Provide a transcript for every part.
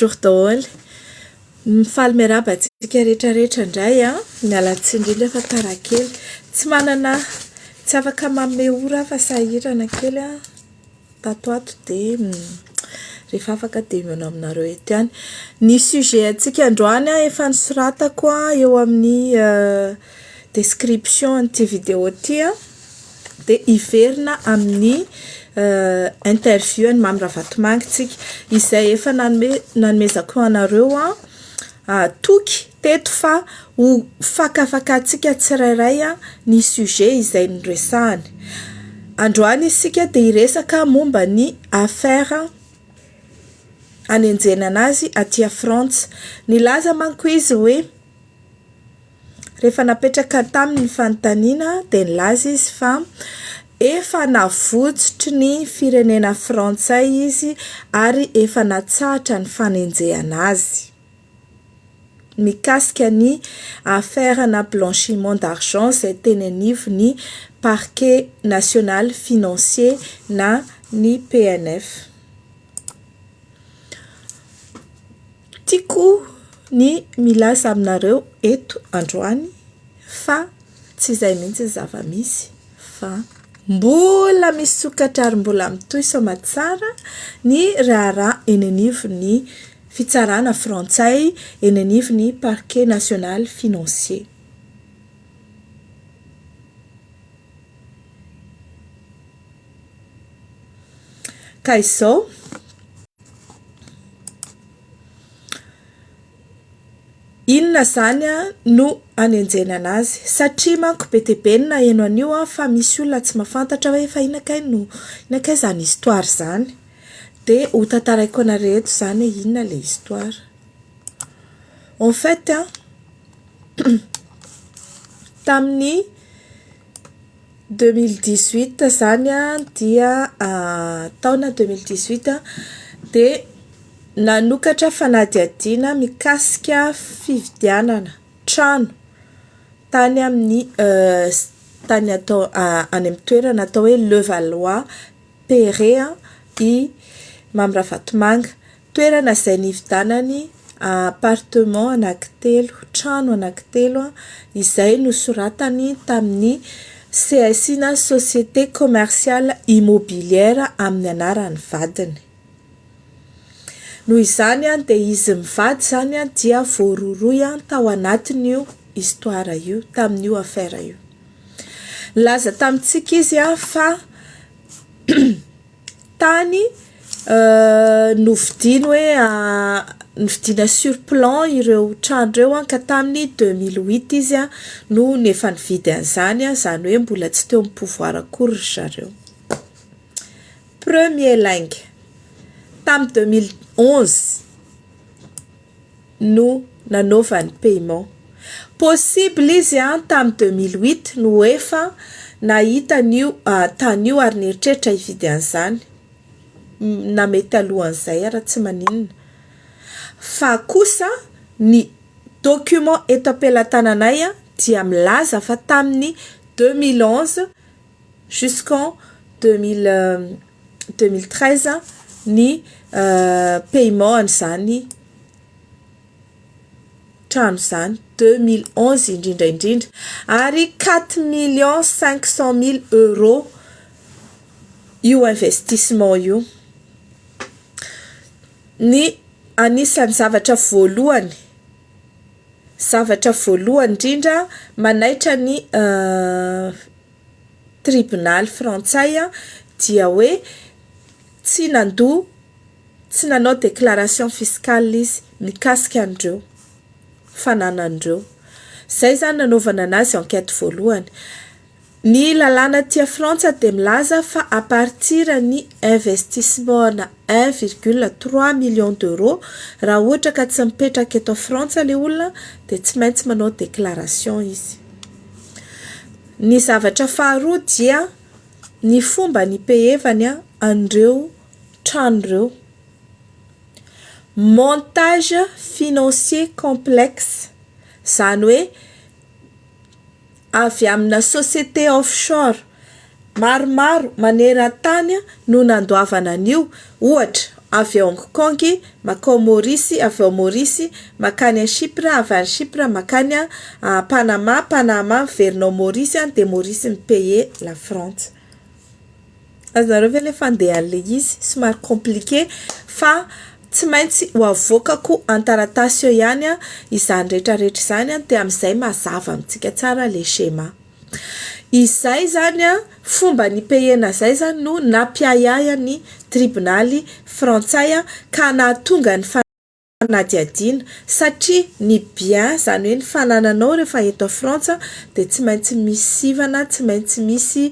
Bonjour daholo. Mifaly miarahaba antsika rehetra rehetra indray an. Miala tsiny indrindra fa tara kely. Tsy manana tsy afaka manome ora aho fa sahirana kely an. Tato ato dia rehefa afaka dia mihaona aminareo eto ihany. Ny sujet antsika androany an efa nosoratako eo amin'ny description an'ity vidéo ity an. Dia hiverina amin'ny interview an'i Mamy Ravatomanga isika, izay efa nanome nanomezako anareo toky teto fa ho fakafakatsika tsirairay ny sujet izay noresahany. Androany isika dia hiresaka momba ny affaire anenjehana an'azy aty Frantsa. Nilaza manko izy hoe. Rehefa napetraka taminy ny fanontaniana dia nilaza izy fa efa navotsotry ny firenena frantsay izy ary efa natsahatra ny fanenjehana azy mikasika ny affaire ana blanchiment d'argent izay teny anivon'ny parquet national financier na ny PNF. Tiako ny milaza aminareo eto androany fa tsy izay mihitsy ny zava-misy fa mbola misokatra ary mbola mitohy soamantsara ny raharaha eny anivon'ny fitsarana frantsay, eny anivon'ny parquet national financier. Ka izao, inona izany no hanenjehina an'azy? Satria manko be dia be ny naheno an'io fa misy olona tsy mahafantatra hoe fa inona kay no, inona kay izany histoire izany? Dia ho tantaraiko anareo eto izany hoe inona ilay histoire. En fait an, tamin'ny. Deux mille dix huit izany dia taona deux mille dix huit dia nanokatra fanadihadiana mikasika fividianana trano tany amin'ny tany atao any amin'ny toerana atao hoe Levallois Perret i Mamy Ravatomanga. Toerana izay nividianany appartement anankitelo, trano anankitelo, izay nosoratany tamin'ny CSI na Société Commerciale Immobilière amin'ny anaran'ny vadiny. Noho izany dia izy mivady izany dia voarohirohy tao anatin'io histoire io, tamin'io affaire io. Nilaza tamintsika izy fa tany novidiany hoe novidiana sur plan ireo trano ireo an ka tamin'ny deux mille huit izy an no efa nividy an'izany an, izany hoe mbola tsy teo amin'ny pouvoir akory ry zareo. Premier lainga, tamin'ny deux mille onze. no nanaovany paiement. Possible izy an tam deux mille huit no efa nahita an'io tany io ary nieritreritra hividy an'izany na mety alohan'izay ara tsy maninona fa kosa ny document eto am-pelatananay dia milaza fa tamin'ny deux mille onze jusqu'en deux mille deux mille treize ny paiement an'izany trano izany deux mille onze indrindra indrindra ary quatre millions cinq cent mille euros io investissement io ny anisan'ny zavatra voalohany zavatra voalohany indrindra manaitra ny tribonaly frantsay dia hoe tsy nandoa, tsy nanao déclaration fiscale izy mikasika an'ireo fananany ireo. Izay izany nanaovana anazy enquête voalohany. Ny lalàna aty Frantsa dia milaza fa à partir ny investissement-na un virgule trois millions d'euros, raha ohatra ka tsy mipetraka eto Frantsa ilay olona dia tsy maintsy manao déclaration izy. Ny zavatra faharoa dia ny fomba nipehevany an'ireo trano ireo. Montage financier complexe, izany hoe avy amina société offshore maromaro maneran-tany no nandoavana an'io, ohatra avy Hong Kong makao Maurice, avy ao Maurice makany a Chypre, avy any Chypre makany a Panama, Panama miverina ao Maurice any dia Maurice mi payer la frantsa. Azonareo ve le fandehan le izy? Somary compliqué fa tsy maintsy ho avoakako an-taratasy eo ihany izany rehetra rehetra izany dia amin'izay mazava amintsika tsara le schéma. Izay izany an, fomba nipehena izay izany no nampiahiahian' ny tribonaly frantsay ka nahatonga ny fanadihadiana, satria ny bien, izany hoe ny fanananao rehefa eto a Frantsa dia tsy maintsy misy sivana, tsy maintsy misy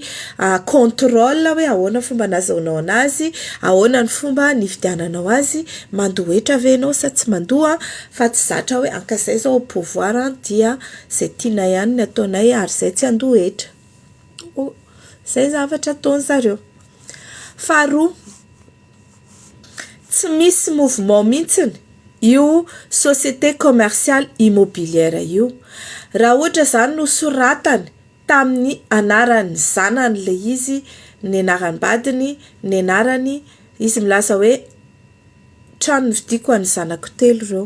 contrôle hoe ahoana fomba nazahoanao anazy, ahoana ny fomba nividiananao azy, mandoa hetra ve ianao sa tsy mandoa, fa tsy zatra hoe an ka izay izao au pouvoir dia. Izay tianay ihany ny ataonay ary izay tsy handoa hetra. Oh, izay zavatra ataony zareo. Faharoa, tsy misy mouvement mihitsiny io société commerciale immobilière io. Raha ohatra izany nosoratany tamin'ny anaran'ny zanany ilay izy, ny anaram-badiny, ny anarany, izy milaza hoe. trano novidiako an'ny zanako telo ireo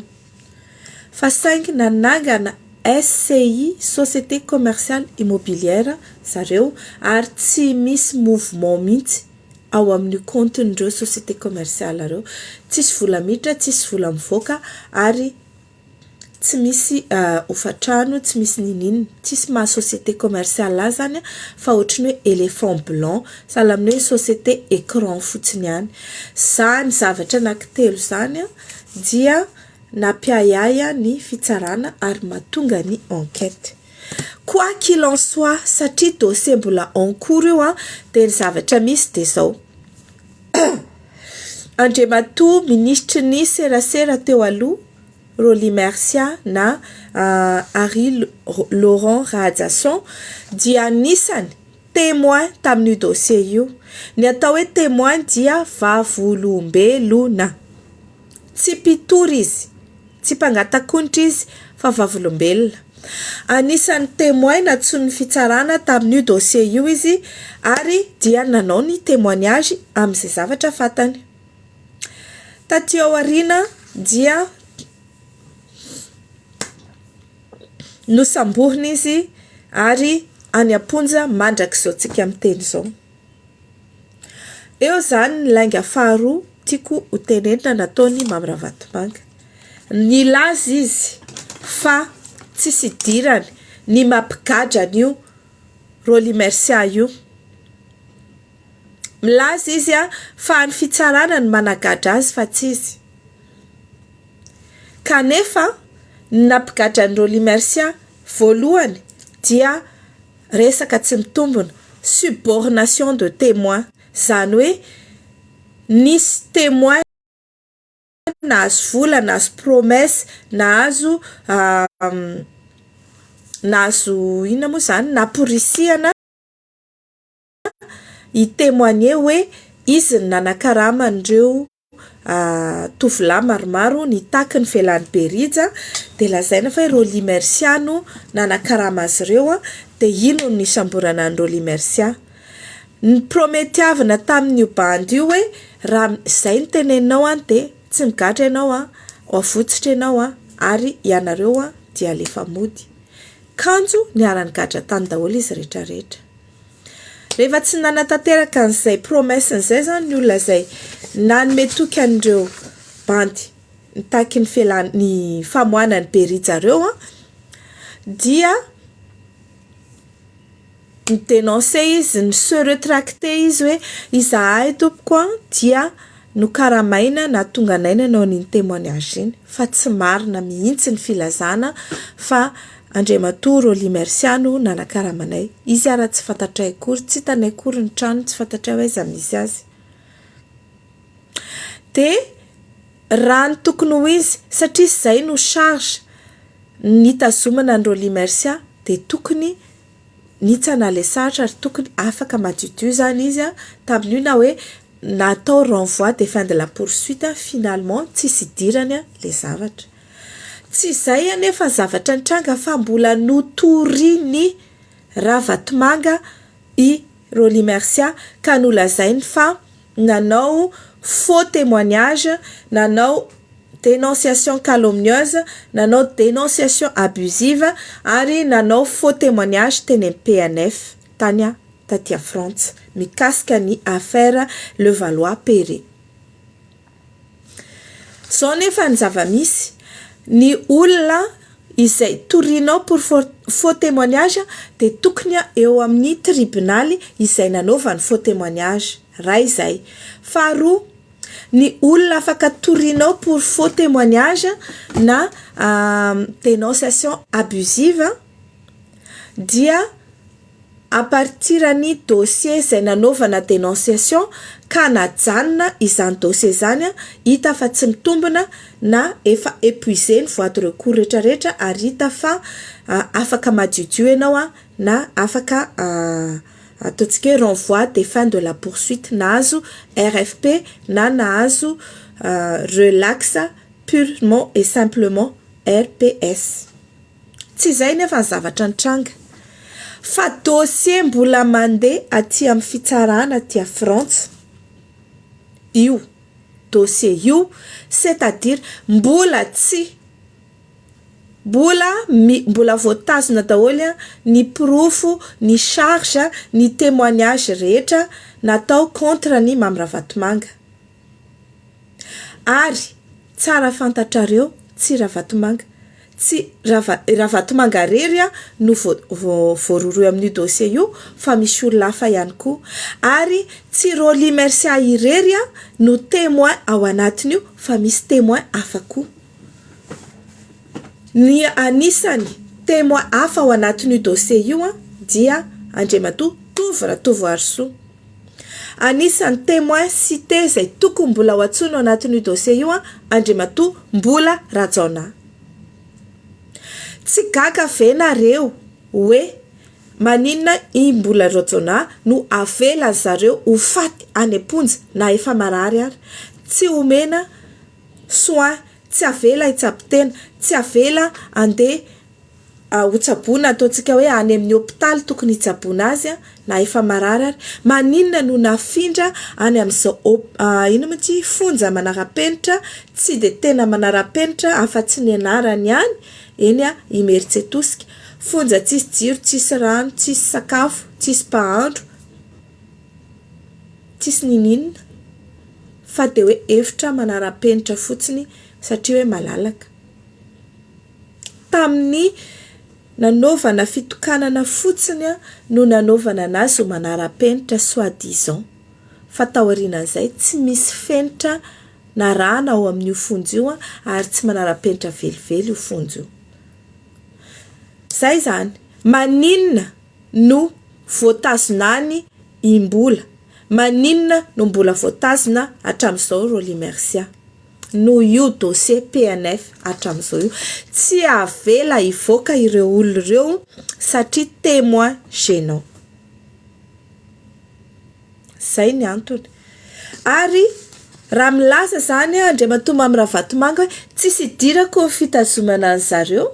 fa saingy nanangana SCI, Société Commerciale Immobilière, zareo ary tsy misy mouvement mihitsy ao amin'io kaontin'ireo société commerciale ireo. Tsisy vola miditra, tsisy vola mivoaka ary. tsy misy hofantrano, tsy misy niniana, tsisy maha société commerciale azy zany fa ohatry ny hoe éléphant blanc, sahala amin'ny hoe société écran fotsiny ihany. Izany zavatra anankitelo izany dia nampiahiahy ahy ny fitsarana ary mahatonga ny enquête. Quoi qu'il en soit, satria dossier mbola en cours io dia ny zavatra misy dia izao. Andriamatoa Minisitry ny Serasera teo aloha, Rolly Mercia na Harry Laurent Rahajason dia anisany témoin tamin'io dossier io. Ny atao hoe témoin dia vavolombelona. Tsy mpitory izy, tsy mpangata-konitra izy fa vavolombelona. Anisan'ny témoin nantsoin'ny fitsarana tamin'io dossier io izy ary dia nanao ny témoignage amin'izay zavatra fantany. Taty aoriana dia nosamborina izy ary any am-ponja mandrak'izao tsika miteny izao. Eo izany ny lainga faharoa tiako ho tenenina nataon'i Mamy Ravatomanga. Nilaza izy fa tsisy idirany ny mampigadra an'io Rolly Mercia io. Milaza izy fa ny fitsarana no managadra azy fa tsy izy. Kanefa ny nampigadra an'i Rolly Mercia voalohany dia Resaka tsy mitombona, subornation de temoin, zany hoe nisy temoin nahazo vola, nahazo promesse, nahazo nahazo inona moa zany, naporisihana, hi-temoigner hoe izy no nanakarama an'ireo tovolahy maromaro nitaky ny velan'i Berija, dia lazaina fa i Rolly Mercia no nanakarama azy ireo, dia iny no nisamborana an'i Rolly Mercia. Niprometiavina tamin'io bandy io hoe raha izay no teneninao dia tsy migadra ianao an, ho avotsotra ianao an, ary ianareo dia alefa mody. Kanjo niara-nigadra tany daholo izy rehetra rehetra. Rehefa tsy nanatanteraka an'izay promesse izay izany ny olona izay nanome toky an'ireo bandy nitaky ny fialana ny famoahana ny Berija ireo an, dia ni-denoncer izy, niseho retracter izy hoe izahay tompoko an dia. Nokaramaina na tonga naina nao n'iny témoignage iny fa tsy marina mihitsy ny filazana fa Andriamatoa Rolly Mercia no nanakarama anay. Izy ara tsy fantatray akory, tsy hitanay akory ny tranony, tsy fantatray hoe aiza misy azy. Dia raha ny tokony ho izy, satria izay no charge nitazomana an'i Rolly Mercia dia tokony nitsana ilay sarotra ary tokony afaka madiodio zany izy a, tamin'io na hoe natao renvoi de fin de la poursuite a, finalement tsisy idirany a le zavatra. Tsy izay anefa ny zavatra nitranga fa mbola notorin'i Ravatomanga i Rolly Mercia ka nolazainy fa nanao faux témoignage, nanao dénonciation calomnieuse, nanao dénonciation abusive ary nanao faux témoignage teny amin'ny PNF tany taty Frantsa mikasika ny affaire Levallois-Perret. Zao nefa ny zava-misy, ny olona izay torianao pour faux témoignage dia tokony eo amin'ny tribonaly izay nanaovany faux témoignage, iray izay. Faharoa, ny olona afaka torianao pour faux témoignage na dénonciation abusive dia. à partir an'ny dossier izay nanaovana denonciation ka najanona izany dossier izany, hita fa tsy mitombina na efa épuisé ny voies de recours retraretra ary hita fa afaka madiodio ianao na afaka ataontsika hoe renvoi des fins de la poursuite nahazo RFP na nahazo relax purement et simplement RPS. Tsy izay nefa ny zavatra nitranga, fa dossier mbola mandeha aty amin'ny fitsarana aty à Frantsa io dossier io, c'est à dire mbola tsy, mbola mi, mbola voatazona daholo ny porofo, ny charge, ny témoignage rehetra natao contre an'i Mamy Ravatomanga. Ary tsara fantatrareo tsy Ravatomanga tsy Rava Ravatomanga irery no vo vo voarohirohy amin'io dossier io fa misy olona hafa ihany koa ary tsy Rolly Mercia irery no témoin ao anatin'io fa misy témoin hafa koa. Ny anisany témoin hafa ao anatin'io dossier io dia Andriamatoa Tovo Ratovoarisoa. Anisan'ny temoin cite izay tokony mbola ho antsoina ao anatin'io dossier io an, Andriamatoa Mbola Rajaonah. Tsy gaga ve nareo hoe maninona i Mbola Rajaonah no avela ry zareo ho faty any am-ponja na efa marary ary, tsy omena soins, tsy avela hitsabo tena, tsy avela handeha hotsaboina ataontsika hoe any amin'ny hopitaly tokony hitsaboana azy na efa marary ary, maninona no nafindra any amin'izao hop, inona moa ity, fonja manara-penitra, tsy dia tena manara-penitra afa-tsy ny anarany ihany, eny Imerintsiatosika, fonja tsisy jiro, tsisy rano, tsisy sakafo, tsisy mpahandro, tsisy ninininona fa dia hoe efitra manara-penitra fotsiny satria hoe malalaka. Tamin'ny nanaovana fitokanana fotsiny no nanaovana anazy ho manara-penitra soit disant. Fa taorianan'izay tsy misy fenitra narahana ao amin'io fonja io ary tsy manara-penitra velively io fonja io. Izay izany. Maninona no voatazona any Imbola? Maninona no mbola voatazona hatramin'izao Rolly Mercia? noho io dossier PNF hatramin'izao io. Tsy avela hivoaka ireo olona ireo satria témoin gênant. Izay ny antony. Ary raha milaza izany Andriamatoa Mamy Ravatomanga hoe tsisy idirako ny fitazomana an'izareo,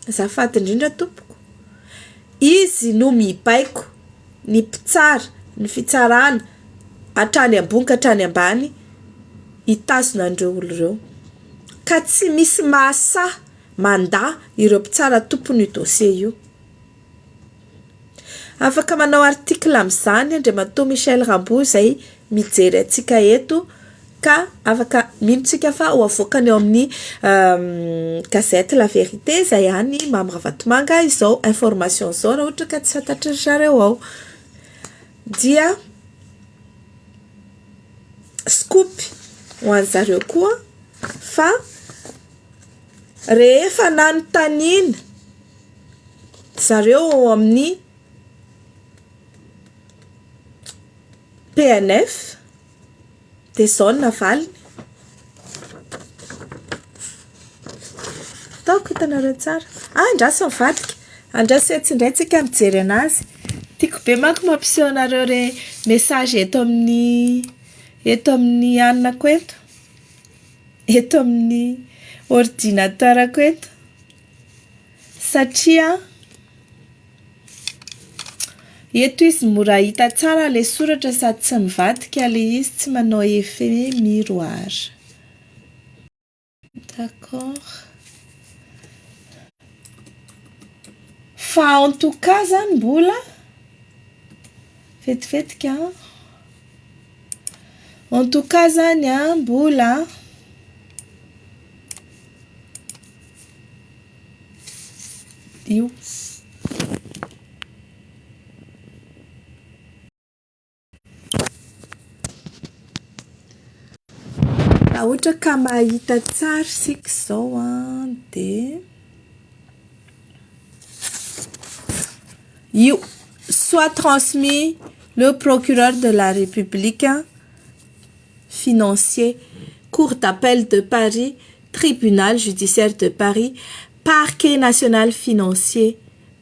Azafady indrindra tompoko. Izy no mibaiko ny mpitsara ny fitsarana hatrany ambony ka hatrany ambany hitazona an'ireo olo ireo. Ka tsy misy mahasahy mandà ireo mpitsara tompon'io dossier io. Afaka manao article amin'izany Andriamatoa Michel Rambo izay mijery antsika eto ka afaka mino tsika fa ho avoakany ao amin'ny gazette La Vérité izay any Mamy Ravatomanga izao information izao raha ohatra ka tsy fantatry ry zareo ao. Dia scoop ho an'ny zareo koa fa rehefa nanontaniana zareo ao amin'ny PNF dia izao ny navaliny. Ataoko hitanareo tsara. Ah, andraso mivadika. Andraso etsy indray tsika mijery anazy. Tiako be manko mampiseho anareo re message eto amin'ny eto amin'ny anonako eto. Eto amin'ny ordinateur-ko eto. Satria eto izy mora hita tsara ilay soratra sady tsy mivadika ilay izy, tsy manao effet miroir. D'accord. Fa en tout cas izany mbola vetivetika an! En tout cas izany an, mbola. io. Raha ohatra ka mahita tsara isika izao an, dia io soit transmis le procureur de la République financier, cour d'appel de Paris. Tribunal judiciaire de Paris, Parquet national financier,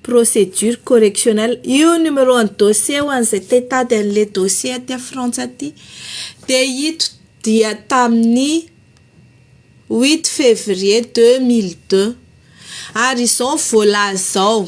Procédure correctionnelle, io numéro an'ny dossier ho an'izay te hitady an'ilay dossier aty à Frantsa aty dia ito dia tamin'ny huit février deux mille deux ary izao ny voalaza ao.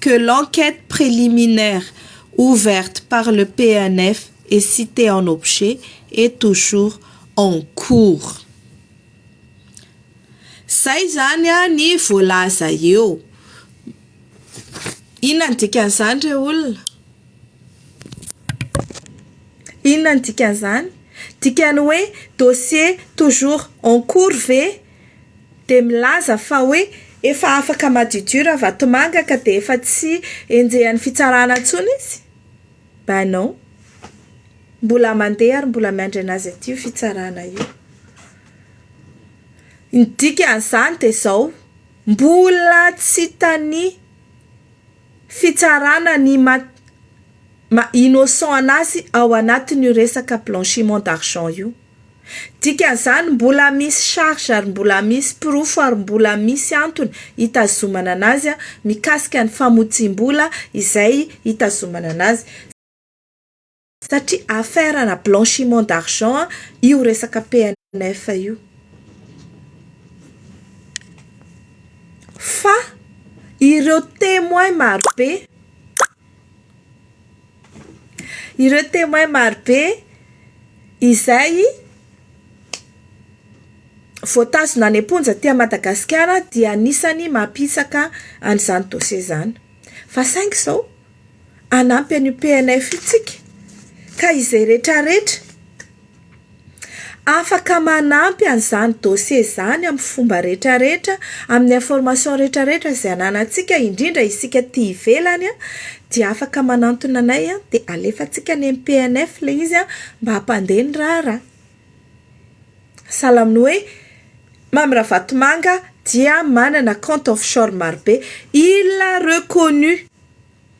que l'enquête préliminaire ouverte par le PNF et citée en objet est toujours en cours. Zay izany ny voalaza eo. Inona ny dikan'izany re olona? Inona ny dikan'izany? Dikan'ny hoe dossier toujours en cours ve? dia milaza fa hoe efa afaka madiodio Ravatomanga ka dia efa tsy enjehan'ny fitsarana intsony izy? Ben non! Mbola mandeha ary mbola miandry an'azy aty io fitsarana io. Ny dikan'izany dia izao, mbola tsy hitan'ny fitsarana ny maha innocent an'azy ao anatin'io resaka blanchiment d'argent io. Dikan'izany, mbola misy charge ary mbola misy porofo ary mbola misy antony hitazomana anazy mikasika ny famotsiam-bola izay hitazomana anazy satria affaire ana blanchiment d'argent io resaka PNF io fa ireo temoins marobe Ireo Témoins marobe izay voatazona any am-ponja aty Madagasikara dia anisan'ny mampihisaka an'izany dossier izany. Fa saingy izao, hanampy an'io PNF io isika, ka izay retraretra Afaka manampy an'izany dossier izany amin'ny fomba rehetrarehetra, amin'ny information rehetrarehetra izay ananantsika, indrindra isika aty ivelany dia afaka manantona anay dia alefantsika any amin'ny PNF ilay izy mba hampandeha ny raharaha. Sahala amin'ny hoe Mamy Ravatomanga dia manana compte offshore marobe, il l'a reconnu.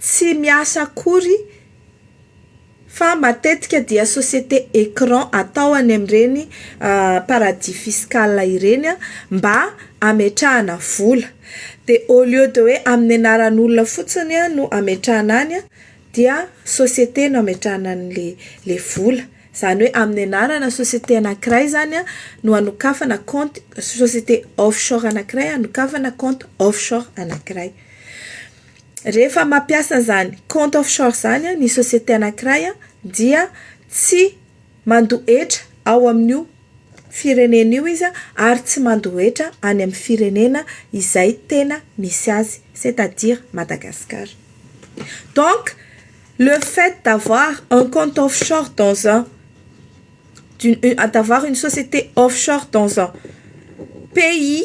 tsy miasa akory fa matetika dia société écran atao any amin'ireny paradis fiscal ireny mba hametrahana vola. Dia au lieu de hoe amin'ny anaran'olona fotsiny no hametrahana any dia société no hametrahana an'ilay ilay vola. Izany hoe amin'ny anarana société anankiray izany no hanokafana kaonty société offshore anankiray hanokafana kaonty offshore anankiray. Rehefa mampiasa izany compte offshore izany ny société anankiray dia tsy mandoa hetra ao amin'io firenena io izy ary tsy mandoa hetra any amin'ny firenena izay tena misy azy, c'est à dire Madagascar. Donc, le fait d'avoir un compte offshore dans un, d'avoir une société offshore dans un pays.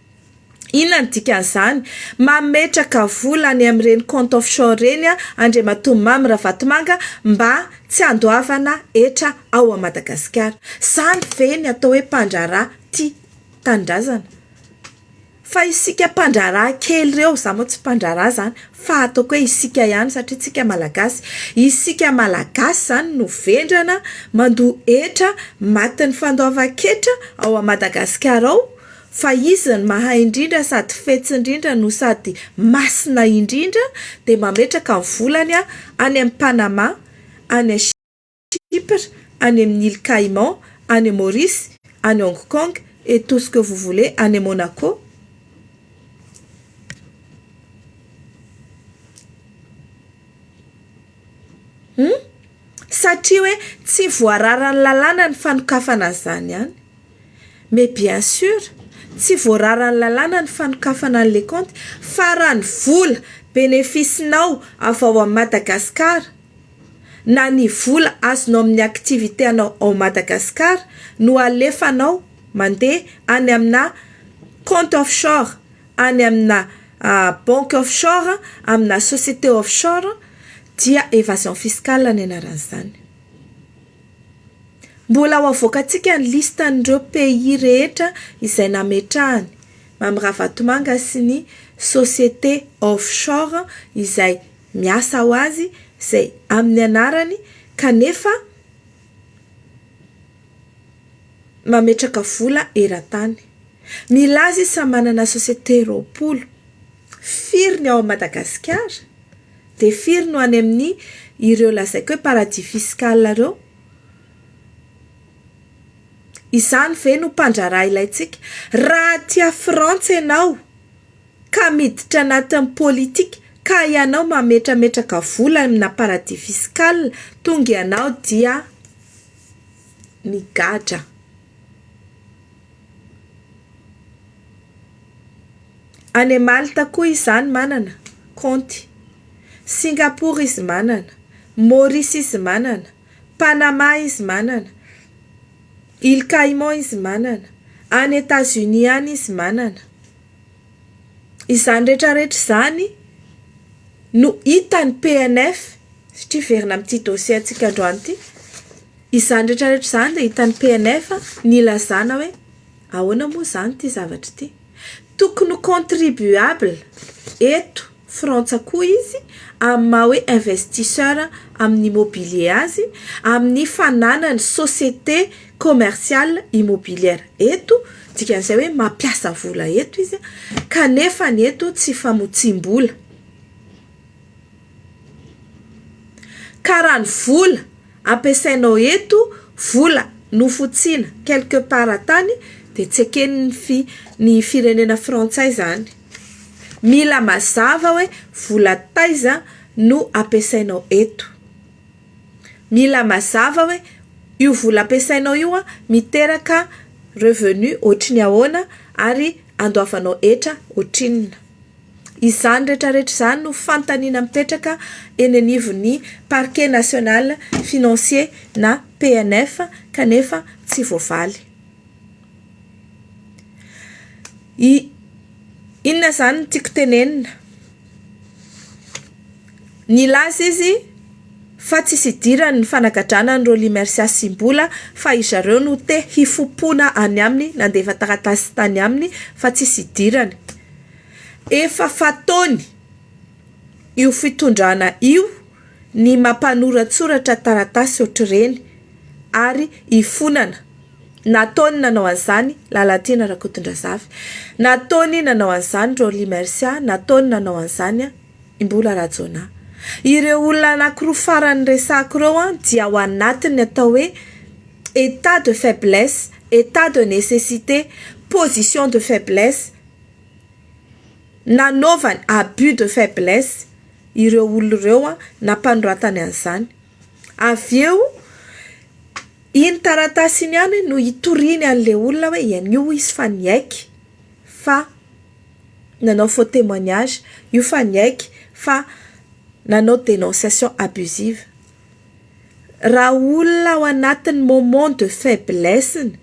Inona ny dikan'izany? Mametraka vola any amin'ireny compte offshore ireny Andriamatoa Mamy Ravatomanga mba tsy handoavana hetra ao Madagasikara. Izany ve ny atao hoe mpandraharaha tia tanindrazana? Fa isika mpandraharaha kely ireo, izaho moa tsy mpandraharaha izany fa ataoko hoe isika ihany satria isika Malagasy, isika Malagasy izany no vendrana mandoa hetra matin'ny fandoavan-ketra ao Madagasikara ao. Fa Izy ny mahay indrindra sady fetsy indrindra no sady masina indrindra dia mametraka ny volany any amin'i Panama, any Chypre, any amin'ny Îles Caïmans, any Maurice, any Hong Kong et tout ce que vous voulez, any Monaco. Hum? Satria hoe tsy voararan'ny lalàna ny fanokafana an'izany any. Mais bien sûr, tsy voararan'ny lalàna ny fanokafana ny leconte fa raha ny vola benefice-nao avy ao amin'i Madagascar na ny vola azonao amin'ny activité-nao ao Madagascar no alefanao mandeha any amina compte offshore, any amina banque offshore, amina société offshore dia évasion fiscale ny anaran'izany. Mbola ho avoakantsika ny listan'ireo pays rehetra izay nametrahany Mamy Ravatomanga sy ny société offshore izay miasa ho azy izay amin'ny anarany kanefa mametraka vola eran-tany. Milaza izy fa manana société roapolo. Firy ny ao Madagasikara? Dia firy no any amin'ny ireo lazaiko hoe paradis fiscal ireo? Izany ve no mpandraharaha ilaintsika? Raha aty à frantsa ianao ka miditra anatin'ny politika ka ianao mametrametraka vola amina paradis fiscal tonga ianao dia migadra. Any Malta koa izany manana kaonty. Singapour izy manana. Maurice izy manana. Panama izy manana. Îles Caïmans izy manana. Any Etats-Unis any izy manana. Izany rehetra rehetra izany no hitan'ny PNF satria hiverina amin'ity dossier antsika androany ity. Izany rehetra rehetra izany dia hitan'ny PNF ny ilazana hoe ahoana moa izany ity zavatra ity. Tokony ho contribuable eto Frantsa koa izy amin'ny maha hoe investisseur amin'ny immobilier azy, amin'ny fananany société commerciale immobilière eto, dikan'izay hoe mampiasa vola eto izy, kanefa ny eto tsy famotsiam-bola. Ka raha ny vola ampiasainao eto, vola nofotsiana quelque part tany dia tsy eken'ny fi- ny firenena frantsay zany. Mila mazava hoe vola taiza no ampiasainao eto. Mila mazava hoe io vola ampiasainao io an, miteraka revenu ohatry ny ahoana ary andoavanao hetra ohatrinona. Izany retraretra izany no fanontaniana mipetraka eny anivon'ny Parquet National Financier na PNF kanefa tsy voavaly. I Inona izany no tiako tenenina? Nilaza izy fa tsisy idirany ny fanagadrana an'i Rolly Mercia sy Mbola fa i zareo no te hifompona any aminy nandefa taratasy tany aminy fa tsisy idirany. Efa fataony io fitondrana io ny mampanoratsoratra taratasy ohatr'ireny ary ifonana. Nataony nanao an'izany Lalatiana Rakotondrazafy, nataony nanao an'izany Rolly Mercia, nataony nanao an'izany i Mbola Rajaonah. Ireo olona anankiroa farany resahako ireo dia ao anatin'ny atao hoe état de faiblesse, état de nécessité, position de faiblesse. nanaovany abus de faiblesse ireo olona ireo nampanoratany an'izany. Avy eo, iny taratasy iny ihany no itoriany an'ilay olona hoe ianio hoy izy fa niaiky fa nanao faux témoignage, io fa niaiky fa nanao dénonciation abusive. Raha olona ao anatin'ny moment de faiblesse-ny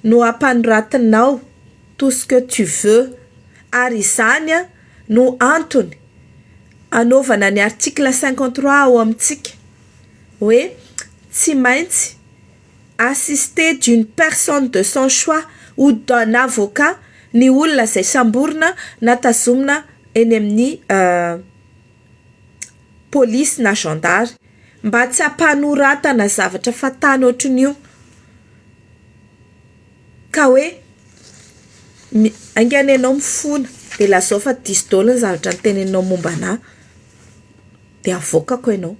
no ampanoratinao. tout ce que tu veux ary izany no antony anaovana ny article cinquante trois ao amintsika hoe tsy maintsy assisté d'une personne de son choix ou d'un avocat ny olona izay samborina na tazomina eny amin'ny polisy na zandary mba tsy hampanoratana zavatra fahatany ohatran'io. Ka hoe mi haingana ianao mifona dia lazao fa diso daholo ny zavatra niteneninao momba anà dia avoakako ianao.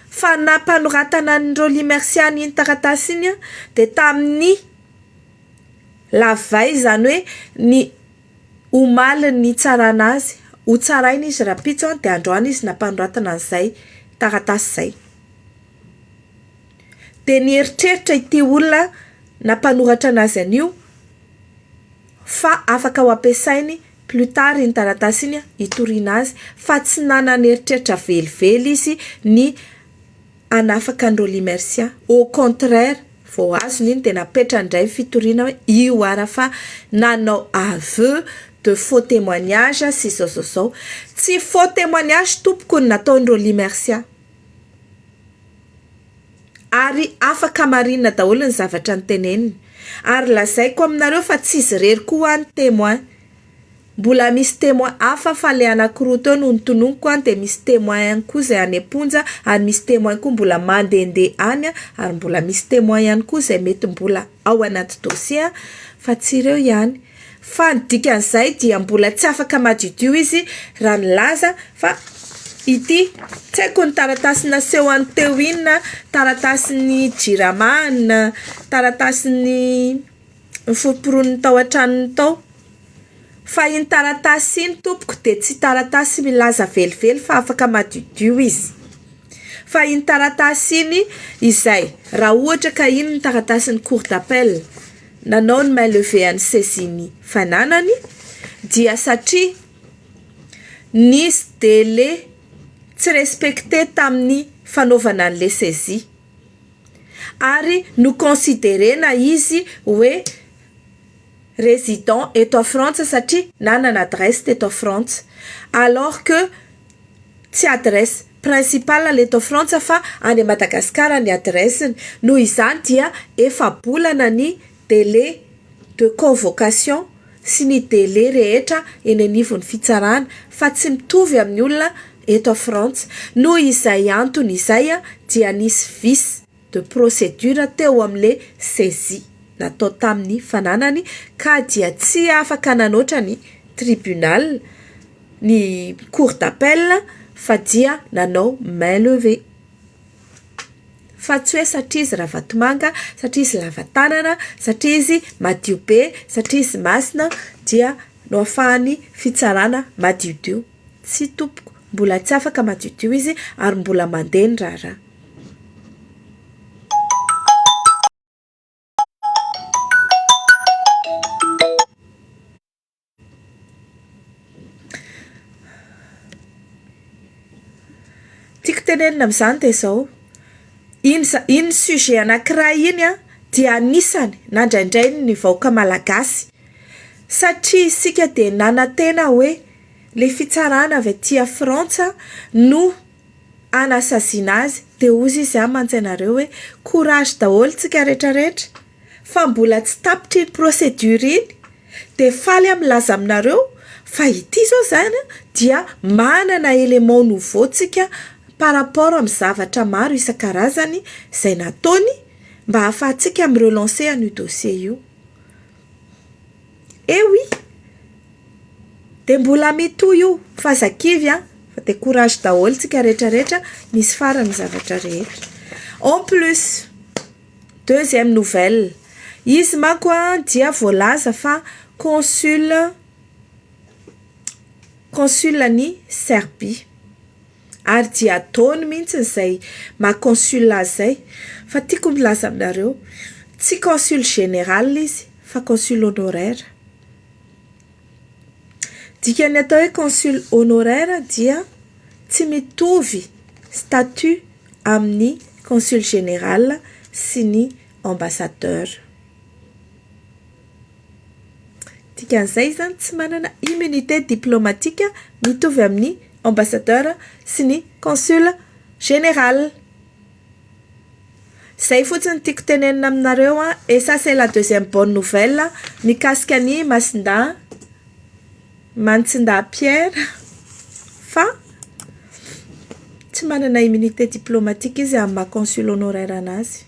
Fa nampanoratana an'ireo Lymersiana an'iny taratasy iny aho dia tamin'ny la veille izany hoe ny omalin'ny hitsarana azy, ho tsaraina izy rahampitso dia androany izy nampanoratana an'izay taratasy izay. Dia nieritreritra ity olona nampanoratra anazy anio fa afaka ho ampiasainy plus tard iny taratasy iny hitoriana azy fa tsy nanana eritreritra velively izy ny hanafaka an'i Rolly Mercia. Au contraire, vao azony iny dia napetrany indray ny fitoriana hoe io ara fa nanao aveu de faux témoignage sy izao izao izao. Tsy faux témoignage tompoko ny nataon'i Rolly Mercia. Ary afaka marina daholo ny zavatra niteneniny. Ary lazaiko aminareo fa tsy izy irery koa hoa no témoin. Mbola misy témoin hafa fa ilay anankiroa teo no notononiko an, dia misy témoin ihany koa izay any am-ponja, ary misy témoin koa mbola mandehandeha any an, ary mbola misy témoin ihany koa izay mety mbola ao anaty dossier an, fa tsy ireo ihany. Fa ny dikan'izay dia mbola tsy afaka madiodio izy raha nilaza fa ity, tsy haiko ny taratasy nasehony teo inona, taratasin'ny Jirama na taratasin'ny noforomporoniny tao an-tranony tao. Fa iny taratasy iny tompoko dia tsy taratasy milaza velively fa afaka madiodio izy. Fa iny taratasy iny izay raha ohatra ka iny ny taratasin'ny cour d'appel. nanao ny main levée an'i Ceziny fananany dia satria nisy délai tsy respecté tamin'ny fanaovana an'ilay saisie ary no considerena izy hoe résident eto à Frantsa satria nanana adresse teto à Frantsa alors que Tsy adresse principale eto Frantsa fa any a Madagascar ny adressiny. Noho izany dia efa-bolana ny délai de convocation sy ny délai rehetra eny anivon'ny fitsarana fa tsy mitovy amin'ny olona eto Frantsa. Noho izay antony izay dia nisy vice. de procédure teo amin'le saisie natao tamin'ny fananany ka dia tsy afaka nanoatra ny tribunal, ny cour d'appel, fa dia nanao main levée. Fa tsy hoe satria izy Ravatomanga, satria izy lava tanana, satria izy madio be, satria izy masina dia noafahan'ny fitsarana madiodio. Tsia tompoko, mbola tsy afaka madiodio izy ary mbola mandeha ny raharaha. Tiako tenenina amin'izany dia izao, iny za- iny sujet anankiray iny dia anisany nandraindrainy ny vahoaka malagasy satria isika dia nanantena hoe le fitsarana avy aty a Frantsa no hanasaziana azy dia hozy izy amantsy anareo hoe courage daholo tsika rehetra rehetra fa mbola tsy tapitra iny procédure iny dia faly aho milaza aminareo fa ity izao izany dia manana élément nouveau tsika par rapport amin'ny zavatra maro isan-karazany izay nataony mba hahafahantsika mi-relancer an'io dossier io. Eh oui! Dia mbola mitohy io fa aza kivy an! Fa dia courage daholo tsika rehetra rehetra, misy farany ny zavatra rehetra. En plus, deuxième nouvelle, izy manko an dia voalaza fa consul consul an'i Serbie. Ary dia ataony mihintsiny izay maha consul azy izay. Fa tiako milaza aminareo, tsy consul général izy fa consul honoraire. Dikan'ny atao hoe consul honoraire dia tsy mitovy statut amin'ny consul général sy ny ambassadeur. Dikan'izay izany tsy manana immunité diplomatique mitovy amin'ny ambassadeur sy ny consul général. Izay fotsiny tiako tenenina aminareo an, et ça c'est la deuxième bonne nouvelle mikasika an'i Masindahy, Mantsindahy Pierre fa tsy manana immunité diplomatique izy amin'ny maha consul honoraire anazy.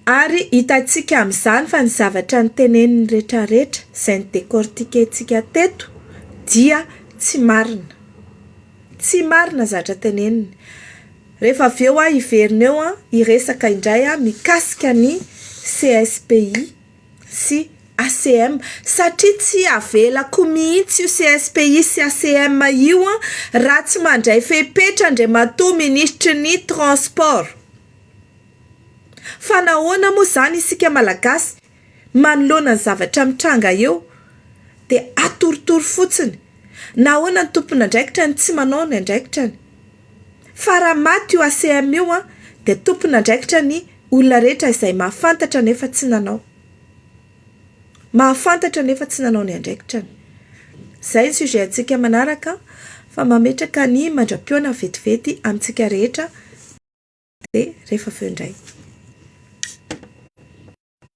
Ary hitantsika amin'izany fa ny zavatra noteneniny rehetrarehetra, izay no-decortiquer-ntsika teto, dia tsy marina. Tsy marina ny zavatra teneniny. Rehefa avy eo hiverina eo hiresaka indray mikasika ny CSPI. sy ACM satria tsy avelako mihitsy io CSPI sy ACM io an, raha tsy mandray fepetra Andriamatoa Minisitry ny Transport. Fa nahoana moa izany isika Malagasy manoloana ny zavatra mitranga eo dia atorotoro fotsiny? Nahoana ny tompon'andraikitra no tsy manao ny andraikitrany? Fa raha maty io ACM io an dia tompon'andraikitra ny Olona rehetra izay mahafantatra nefa tsy nanao. Mahafantatra nefa tsy nanao ny andraikitrany. Izay ny sujet antsika manaraka fa mametraka ny mandra-pihaona vetivety amintsika rehetra dia rehefa avy eo indray.